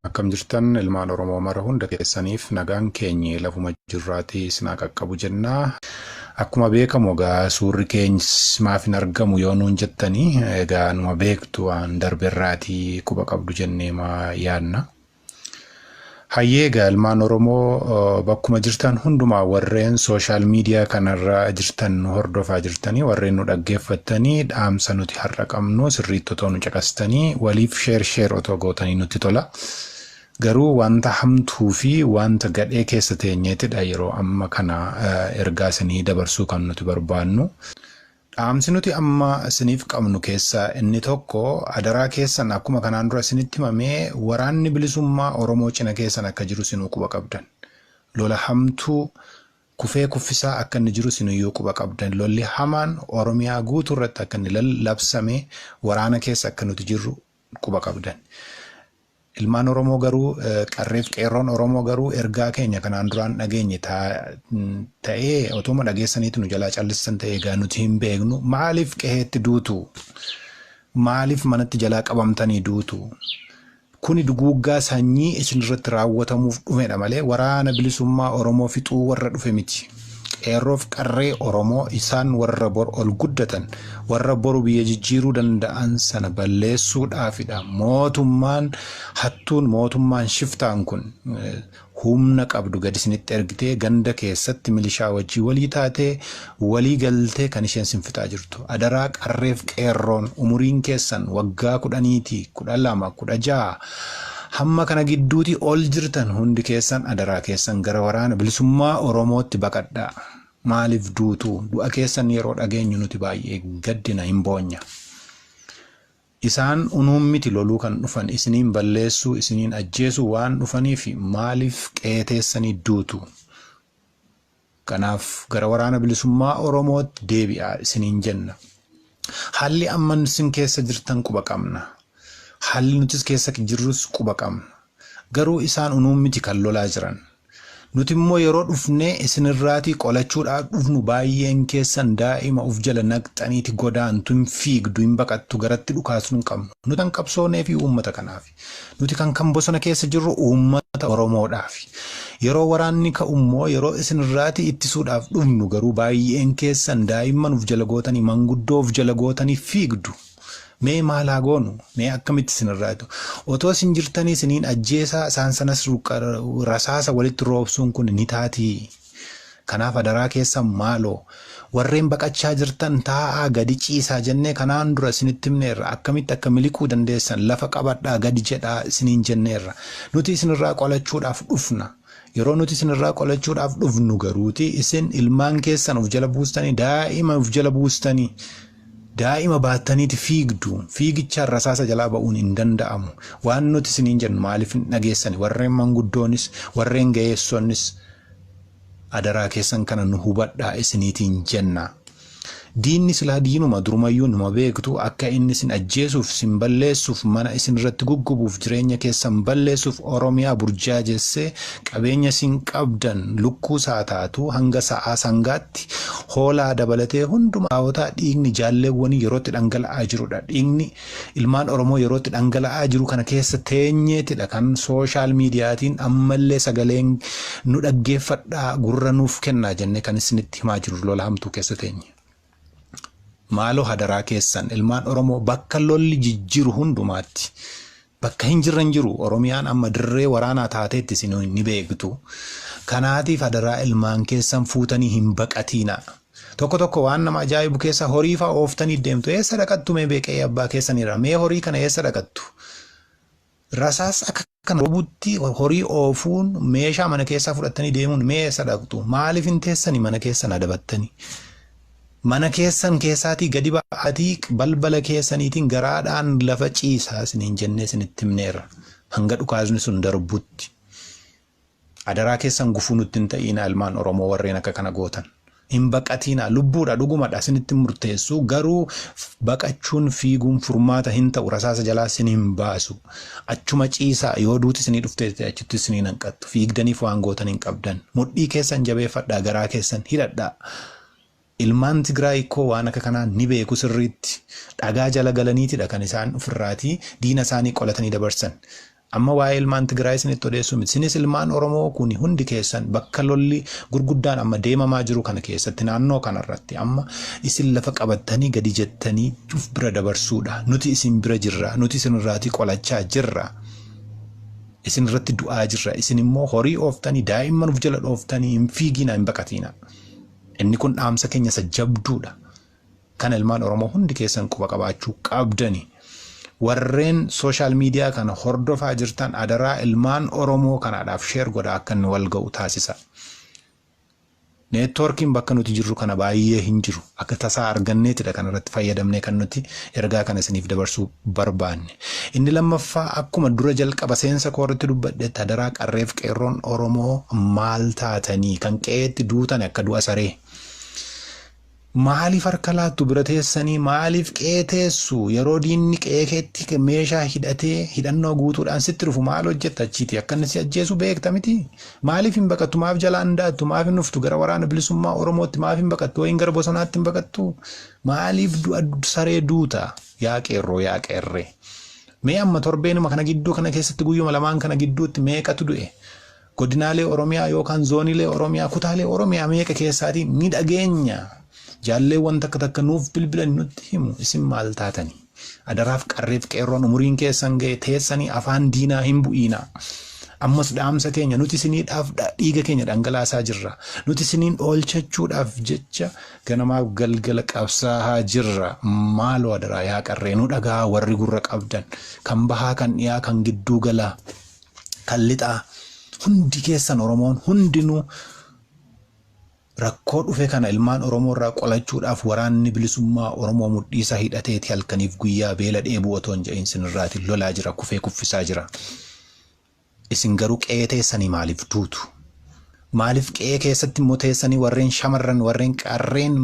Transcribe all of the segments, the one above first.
Akkam jirtan ilmaan Oromoo mara hunda keessaniif nagaan keenyi lafuma jirraatii sinaa qaqqabu jenna. Akkuma beekamu egaa suurri keenyis maaf hin argamu yoo nuun jettanii egaa numa beektu waan darbe irraatii quba qabdu jennee maa yaadna. Hayyee egaa ilmaan Oromoo bakkuma jirtan hundumaa warreen sooshaal miidiyaa kanarra jirtan nu hordofaa jirtanii warreen nu dhaggeeffattanii dhaamsa nuti har'a qabnu sirriitti otoo nu caqastanii waliif sheer sheer otoo gootanii nutti tola. Garuu wanta hamtuu fi wanta gadhee keessa teenyeetidha yeroo amma kana ergaa isinii dabarsuu kan nuti barbaannu. Dhaamsi nuti amma isiniif qabnu keessaa inni tokko adaraa keessan akkuma kanaan dura isinitti himame waraanni bilisummaa Oromoo cina keessan akka jiru isinuu quba qabdan. Lola hamtuu kufee kuffisaa akka inni jiru isinuyyuu quba qabdan. Lolli hamaan Oromiyaa guutuu irratti akka inni labsame waraana keessa akka nuti jirru quba qabdan. Ilmaan Oromoo garuu qarreef qeerroon Oromoo garuu ergaa keenya kanaan duraan dhageenye ta'ee otooma dhageessaniitu nu jalaa callistan ta'ee egaa nuti hin beeknu maaliif qeheetti duutu maaliif manatti jalaa qabamtanii duutu kuni duguuggaa sanyii isinirratti raawwatamuuf dhufedha malee waraana bilisummaa Oromoo fixuu warra dhufe miti. Qeerroof qarree Oromoo isaan warra bor ol guddatan, warra boru biyya jijjiiruu danda'an sana balleessuudhaafidha. Mootummaan hattuun, mootummaan shiftaan kun humna qabdu gadi isinitti ergitee ganda keessatti milishaa wajjin walii taatee, walii galtee kan isheen sin fixaa jirtu. Adaraa qarreef qeerroon umuriin keessan waggaa kudhaniiti, kudha lama, kudha ja'a, Hamma kana gidduuti ol jirtan hundi keessan adaraa keessan gara waraana bilisummaa Oromootti baqadhaa. Maaliif duutu? Du'a keessan yeroo dhageenyu nuti baay'ee gaddina, hin boonya. Isaan unuun miti loluu kan dhufan, isiniin balleessuu, isiniin ajjeesuu waan dhufaniif maaliif qe'ee teessanii duutu? Kanaaf gara Waraana Bilisummaa Oromootti deebi'aa isiniin jenna. Haalli amma isin keessa jirtan quba qabna. Haalli nutis keessa jirrus quba qabna. Garuu isaan unuun miti kan lolaa jiran. Nuti immoo yeroo dhufnee isinirraatii qolachuudhaaf dhufnu baay'een keessan daa'ima of jala naqxaniiti godaantu, hin fiigdu, hin baqattu, garatti dhukaasnu hin qabnu. Nuti kan qabsooneefi uummata kanaaf. Nuti kan kan bosona keessa jirru uummata Oromoodhaafi. Yeroo waraanni ka'ummoo yeroo isinirraati ittisuudhaaf dhufnu garuu baay'een keessan daa'imman of jala gootanii manguddoo of jala gootanii fiigdu. Mee maal haa goonu? Mee akkamitti isinirraa itu? Otoo isin jirtanii isiniin ajjeesaa isaan sanas rasaasa walitti roobsuun kun ni taatii? Kanaaf adaraa keessan maaloo Warreen baqachaa jirtan taa'aa gadi ciisaa jennee kanaan dura isinitti himneerra. Akkamitti akka miliquu dandeessan lafa qabadhaa gadi jedhaa isiniin jenneerra. Nuti isinirraa qolachuudhaaf dhufna. Yeroo nuti isinirraa qolachuudhaaf dhufnu garuuti isin ilmaan keessan of jala buustanii daa'ima of jala buustanii Daa'ima baattaniiti fiigdu. Fiigichaan rasaasa jalaa ba'uun hin danda'amu. Waan nuti isiniin jennu maaliif hin dhageessani? Warreen manguddoonis, warreen ga'eessonnis adaraa keessan kana nu hubadhaa isiniitiin jenna. Diinni silaa diinuma durumayyuu numa beektu akka inni isin ajjeesuuf, sin balleessuuf, mana isinirratti guggubuuf, jireenya keessan balleessuuf Oromiyaa burjaajessee Qabeenya isin qabdan lukkuus haa taatu hanga sa'aa sangaatti hoolaa dabalatee hunduma Aawota dhiigni jaalleewwanii yeroo itti dhangala'aa jirudha. Dhiigni ilmaan Oromoo yeroo itti dhangala'aa jiru kana keessa teenyeetidha kan sooshaal miidiyaatiin ammallee sagaleen nu dhaggeeffadhaa gurra nuuf kennaa jennee kan issinitti himaa jirru lola hamtuu keessa teenye. Maaloo hadaraa keessan ilmaan Oromoo bakka lolli jijjiru hundumaatti bakka hin jirre hin jiru Oromiyaan amma dirree waraanaa taateetti isin ni beektu. Kanaatiif hadaraa ilmaan keessan fuutanii hin baqatiina. Tokko tokko waan nama ajaa'ibu keessa horii fa'aa ooftanii deemtu. Eessa dhaqattu mee beeqee abbaa keessaniirra? Mee horii kana eessa dhaqattu? Rasaas akka kana robutti horii oofuun meeshaa mana keessaa fudhattanii deemuun mee eessa dhaqxu? Maaliif hin teessani mana keessan adabattani? Mana keessan keessaatii gadi ba'aatii balbala keessaniitiin garaadhaan lafa ciisaa isiniin jennee isinitti himneerra. Hanga dhukaasni sun darbutti. Adaraa keessan gufuu nutti hin ta'iinaa ilmaan oromoo warreen akka kana gootan. Hin baqatiinaa lubbuudha dhugumadha isinitti murteessuu garuu baqachuun fiiguun furmaata hin ta'u rasaasa jalaa isin hin baasu achuma ciisaa yoo duuti isinii dhuftee ta'e achitti isinii hin hanqattu fiigdaniif waan gootan hin qabdan mudhii keessan jabeeffadhaa garaa keessan hidhadhaa Ilmaan Tigraay ikkoo waan akka kanaa ni beeku sirriitti. Dhagaa jala galaniitidha kan isaan ofirraatii diina isaanii qolatanii dabarsan. Amma waa'ee ilmaan Tigraay isinitti odeessuu miti. Isinis ilmaan Oromoo kuni hundi keessan bakka lolli gurguddaan amma deemamaa jiru kana keessatti naannoo kanarratti amma isin lafa qabattanii gadi jettanii of bira dabarsuudha. Nuti isin bira jirra. Nuti isinirraatii qolachaa jirra. Isinirratti du'aa jirra. Isinimmoo horii ooftanii daa'imman of jala dhooftanii hin fiigiinaa hin baqatiinaa. Inni kun dhaamsa keenya isa jabduudha. Kana ilmaan Oromoo hundi keessan quba qabaachuu qabdani. Warreen sooshaal miidiyaa kana hordofaa jirtan adaraa ilmaan Oromoo kanaadhaaf sheer godhaa akka inni wal ga'u taasisa. Neetwoorkiin bakka nuti jirru kana baay'ee hin jiru. Akka tasaa arganneetidha kanarratti fayyadamnee kan nuti ergaa kana isiniif dabarsuu barbaanne. Inni lammaffaa akkuma dura jalqaba seensa koo irratti dubbadhetti adaraa qarreef qeerroon Oromoo maal taatanii kan qe'eetti duutan akka du'a saree. Maaliif harka laattu bira teessanii maaliif qe'ee teessu yeroo diinni qe'ee keetti meeshaa hidhatee hidhannoo guutuudhaan sitti dhufu maal hojjetta achiiti akka inni si ajjeesu beekta miti maaliif hin baqattu maaf jalaa hin daattu maaf hin dhuftu gara waraana bilisummaa Oromootti maaf hin baqattu wayin gara bosonaatti hin baqattu maaliif du'a saree duuta. Yaa qeerroo yaa qeerree. Mee amma torbeenuma kana gidduu kana keessatti guyyuma lamaan kana gidduutti meeqatu du'e? Godinaalee Oromiyaa yookaan zooniilee Oromiyaa kutaalee Oromiyaa meeqa keessaatii ni dhageenya? Jaalleewwan takka takka nuuf bilbilani nutti himu isin maal taatani? Adaraaf qarreef qeerroon umuriin keessan ga'e teessanii afaan diinaa hin bu'iinaa. Ammas dhaamsa keenya nuti isiniidhaaf dhiiga keenya dhangalaasaa jirra. Nuti isiniin oolchachuudhaaf jecha Ganamaaf galgala qabsaahaa jirra maaloo adaraa yaa qarree nu dhagahaa warri gurra qabdan kan bahaa kan dhiyaa kan gidduu galaa kan lixaa hundi keessan oromoon hundinuu rakkoo dhufe kana ilmaan oromoo irraa qolachuudhaaf waraanni bilisummaa oromoo mudhiisaa hidhateeti halkaniif guyyaa beela dheebuu otoo hin jedhin sinirraati lolaa jira kufee kuffisaa jira. Isin garuu qe'ee teessanii maaliif duutu? Maaliif qe'ee keessatti immoo teessanii warreen shamarran, warreen qarreen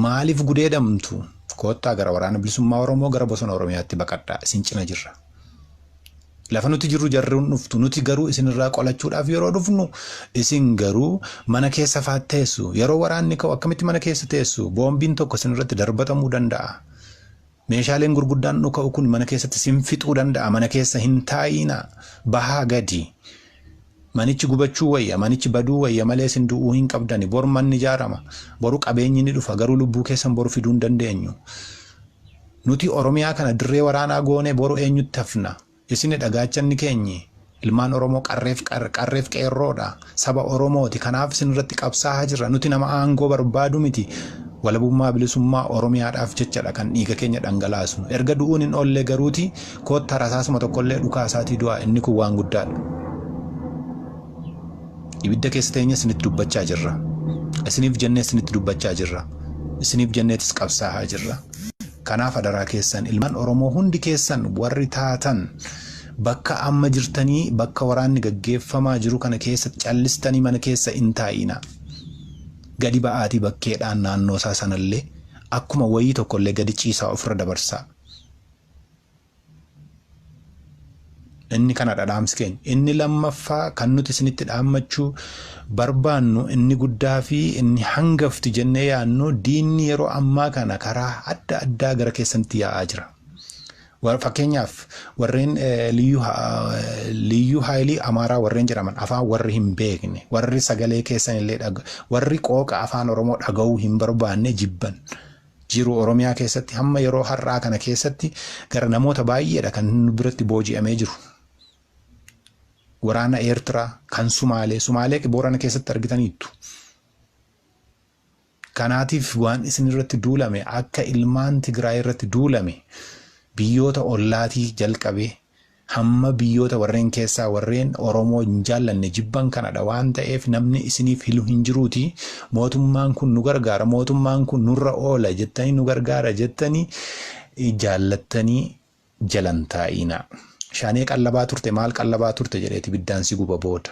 maaliif gudeedamtu? Koottaa gara waraana bilisummaa Oromoo gara bosona Oromiyaatti baqadhaa. Isin cina jirra. Lafa nuti jirru jarruun dhuftu. Nuti garuu isinirraa qolachuudhaaf yeroo dhufnu isin garuu mana keessa faat teessu. Yeroo waraanni ka'u akkamitti mana keessa teessu? Boombiin tokko isinirratti darbatamuu danda'a. Meeshaaleen gurguddaan dhuka'u kun mana keessatti sin fixuu danda'a mana keessa hin taa'iinaa bahaa gadi manichi gubachuu wayya manichi baduu wayya malee sin du'uu hin qabdani bor manni ijaarama boru qabeenyi ni dhufa garuu lubbuu keessan boru fiduu hin dandeenyu nuti oromiyaa kana dirree waraanaa goone boru eenyutti hafna Isinidha gaachanni keenyi. Ilmaan Oromoo qarreef qarreef qeerroodha. Saba Oromooti. Kanaaf isin irratti qabsaaha jirra. Nuti nama aangoo barbaadu miti. Walabummaa bilisummaa Oromiyaadhaaf jechadha kan dhiiga keenya dhangalaasnu. Erga du'uun hin oollee garuuti koottaa rasaasuma tokkollee dhukaasaatii du'aa inni kun waan guddaadha. Ibidda keessa teenye isinitti dubbachaa jirra. Isiniif jennee isinitti dubbachaa jirra. Isiniif jenneetis qabsaahaa jirra. Kanaaf adaraa keessan ilmaan Oromoo hundi keessan warri taatan bakka amma jirtanii bakka waraanni gaggeeffamaa jiru kana keessatti callistanii mana keessa hin taa'iinaa. Gadi ba'aatii bakkeedhaan naannoosaa sanallee akkuma wayii tokkollee gadi ciisaa ofirra dabarsaa. Inni kanadha dhaamsi keenya. Inni lammaffaa kan nuti isinitti dhaammachuu barbaannu inni guddaa fi inni hangafti jennee yaadnu diinni yeroo ammaa kana karaa adda addaa gara keessanitti yaa'aa jira. Wa- Fakkeenyaaf warreen eh, liyyuu ha- eh, liyyuu haayilii amaaraa warreen jedhaman afaan warri hin beekne warri sagalee keessan illee dhaga- warri qooqa afaan oromoo dhaga'uu hin barbaanne jibban jiru Oromiyaa keessatti hamma yeroo har'aa kana keessatti gara namoota baay'eedha kan nu biratti booji'amee jiru. Waraana Eertiraa kan Sumaalee, Sumaalee Boorana keessatti argitaniittu. Kanaatiif waan isin irratti duulame akka ilmaan Tigraay irratti duulame biyyoota ollaatii jalqabee Hamma biyyoota warreen keessaa warreen Oromoo hin jaallanne jibban kanadha waan ta'eef namni isiniif hilu hin jiruutii mootummaan kun nu gargaara mootummaan kun nurra oola jettanii nu gargaara jettanii jaallattanii jalan taa'iinaa. Shaanee qallabaa turte maal qallabaa turte jedheeti biddaan si guba booda.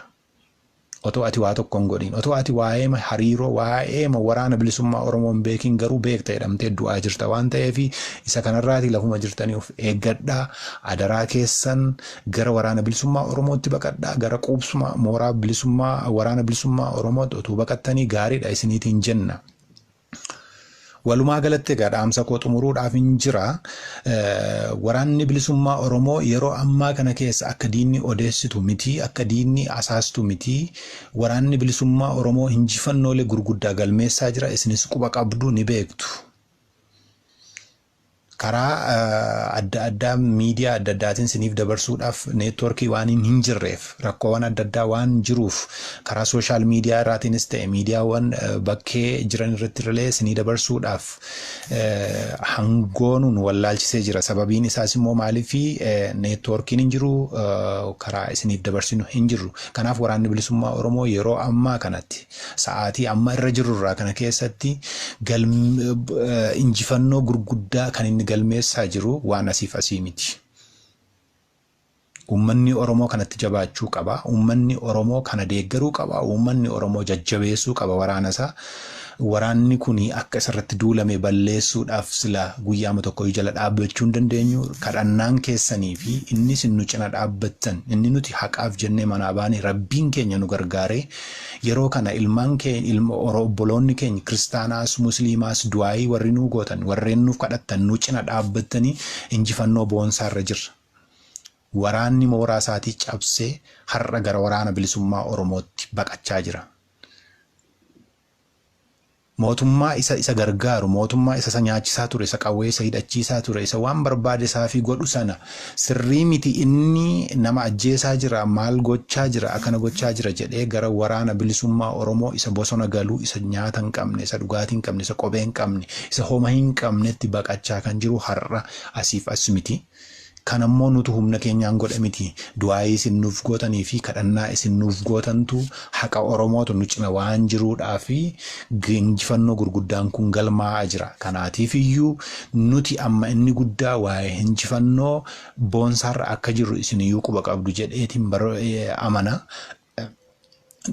Otoo ati waa tokko hin godhiin, otoo ati waa'eema hariiroo, waa'eema waraana bilisummaa Oromoo hin beekiin garuu beekta jedhamtee du'aa jirta waan ta'eef isa kanarraatii lafuma jirtanii of eeggadhaa, adaraa keessan gara waraana bilisummaa Oromootti baqadhaa, gara quubsuma mooraa bilisummaa waraana bilisummaa Oromootti otuu baqattanii gaariidha isiniitiin jenna. Walumaa galatti egaa dhaamsa koo xumuruudhaaf hin jira. Waraanni bilisummaa Oromoo yeroo ammaa kana keessa akka diinni odeessitu miti, akka diinni asaastu miti. Waraanni bilisummaa Oromoo injifannoolee gurguddaa galmeessaa jira. Isinis quba qabdu ni beektu. Karaa adda addaa miidiyaa adda addaatiin siniif dabarsuudhaaf neetwoorkii waan hin jirreef rakkoowan adda addaa waan jiruuf karaa sooshaal miidiyaa irraatiinis ta'e miidiyaawwan bakkee jiran irratti illee sinii dabarsuudhaaf hangoonuun wallaalchisee jira. Sababiin isaas immoo maaliif neetwoorkiin hin jiru karaa isiniif dabarsinu hin jirru. Kanaaf waraanni bilisummaa Oromoo yeroo ammaa kanatti Sa'aatii amma irra jirru irraa kana keessatti injifannoo gurguddaa kan inni galmeessaa jiru waan asiif asii miti. Uummanni Oromoo kanatti jabaachuu qaba. Uummanni Oromoo kana deeggaruu qaba. Uummanni Oromoo jajjabeessuu qaba waraana isaa. Waraanni kun akka isarratti duulame balleessuudhaaf sila guyyaama tokko jala dhaabbachuu hin dandeenyu. Kadhannaan keessanii fi inni isin nu cina dhaabbattan inni nuti haqaaf jennee manaa baane rabbiin keenya nu gargaaree Yeroo kana ilman keen ilmo oro obboloonni keeny kiristaanaas musliimaas du'aa'ii warri nuu gootan warreen nuuf kadhattan nu cina dhaabbattanii injifannoo boonsaa irra jirra. Waraanni mooraa isaatii cabsee har'a gara waraana bilisummaa oromootti baqachaa jira. Mootummaa isa isa gargaaru, mootummaa isa isa nyaachisaa ture, isa qawwee isa hidhachiisaa ture, isa waan barbaade isaafii godhu sana sirrii miti inni nama ajjeesaa jira, maal gochaa jira, akkana gochaa jira jedhee gara Waraana Bilisummaa Oromoo isa bosona galu, isa nyaata hin qabne, isa dhugaatii hin qabne, isa kophee hin qabne, isa homa hin qabnetti baqachaa kan jiru har'a asiif as mitii. Kana immoo nutu humna keenyaan godhe miti. Du'aayii isin nuuf gootanii fi kadhannaa isin nuuf gootantu haqa Oromootu nu cina waan jiruudhaaf injifannoo gurguddaan kun galmaa'aa jira. Kanaatiif iyyuu nuti amma inni guddaa waa'ee injifannoo boonsaarra akka jirru isin iyyuu quba qabdu jedheetiin amana.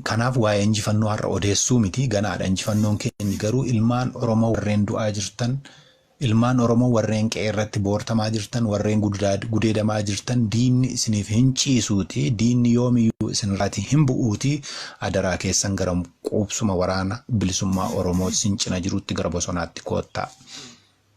Kanaaf waa'ee injifannoo har'a odeessuu miti ganaadha injifannoon keenyi garuu ilmaan Oromoo warreen du'aa jirtan ilmaan Oromoo warreen qe'ee irratti boortamaa jirtan warreen gudaa- gudeedamaa jirtan diinni isiniif hin ciisuuti diinni yoomiyyuu isinirraati hin bu'uuti adaraa keessan gara quubsuma waraana bilisummaa Oromoo isin cina jirutti gara bosonaatti koottaa.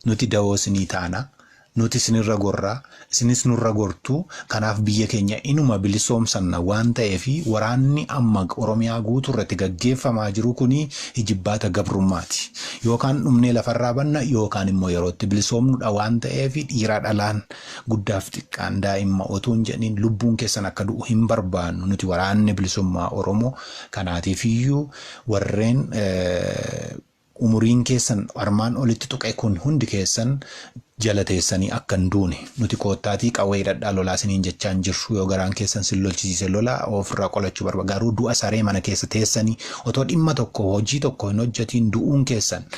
Nuti dawoo isinii taana. Nuti isinirra gorra. Isinis nurra gortu. Kanaaf biyya keenya inuma bilisoomsanna waan ta'eef waraanni amma Oromiyaa guutuurratti gaggeeffamaa jiru kuni ijibbaata gabrummaati. Yookaan dhumnee lafarraa banna yookaan immoo yerootti bilisoomnudha waan ta'eef dhiiraa dhalaan, guddaaf xiqqaan, daa'imma otuu hin jedhin lubbuun keessan akka du'u hin barbaannu nuti waraanni bilisummaa Oromoo. Kanaatiifiyyuu warreen Umuriin keessan armaan olitti tuqe kun hundi keessan jala teessanii akka hin duune, nuti koottaatii qawwee hidhadhaa lolaa isiniin jechaa hin jirru. Yoo garaan keessan isin lolchisiise lolaa, oo ofirraa qolachuu barbaaddan garuu du'a saree mana keessa teessanii otoo dhimma tokko, hojii tokko hin hojjetiin du'uun keessan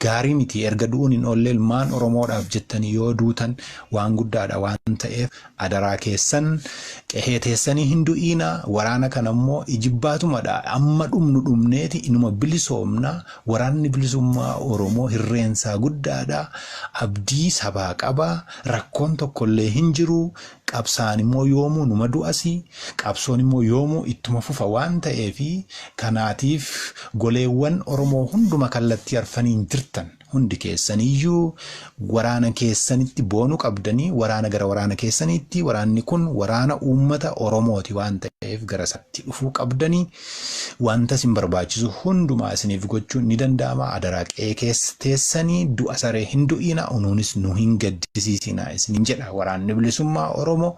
gaarii miti. Erga du'uun hin oolle ilmaan Oromoodhaaf jettanii yoo duutan waan guddaadha waan ta'eef Adaraa keessan qehee teessanii hin du'iina waraana kana immoo ijibbaatumadha amma dhumnu dhumneeti inuma bilisoomna waraanni bilisummaa oromoo hirreensaa guddaadha abdii sabaa qaba rakkoon tokkollee hin jiru qabsaa'an immoo yoomuu numa du'asi qabsoon immoo yoomuu ittuma fufa waan ta'eefi kanaatiif goleewwan oromoo hunduma kallattii arfaniin jirtan Hundi keessaniyyuu waraana keessanitti boonu qabdanii waraana gara waraana keessaniitti waraanni kun waraana uummata Oromooti waan ta'eef gara isaatti dhufuu qabdanii wanta isin barbaachisu hundumaa isiniif gochuun ni danda'ama adaraa qe'ee keessa teessanii du'a saree hin du'iina unuunis nu hin gaddisiisiina isiniin jedha waraanni bilisummaa Oromoo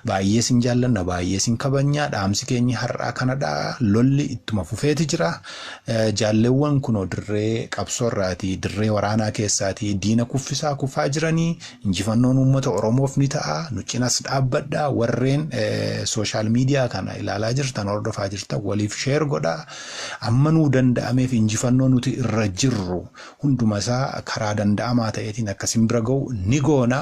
Baay'ee sin jaallanna baay'ee sin kabajnaa dhaamsi keenyi har'aa kanadha lolli ittuma fufeeti jira jaallewwan kunoo dirree qabsoo irraati dirree waraanaa keessaati diina kuffisaa kufaa jiranii injifannoon uummata oromoof ni ta'a nu cinas dhaabbadha warreen sooshaal miidiyaa kana ilaalaa jirtan hordofaa jirtan waliif sheer godha amma nuu danda'ameef injifannoo nuti irra jirru hundumasaa karaa danda'amaa ta'eetiin akka sin bira ga'u ni goona.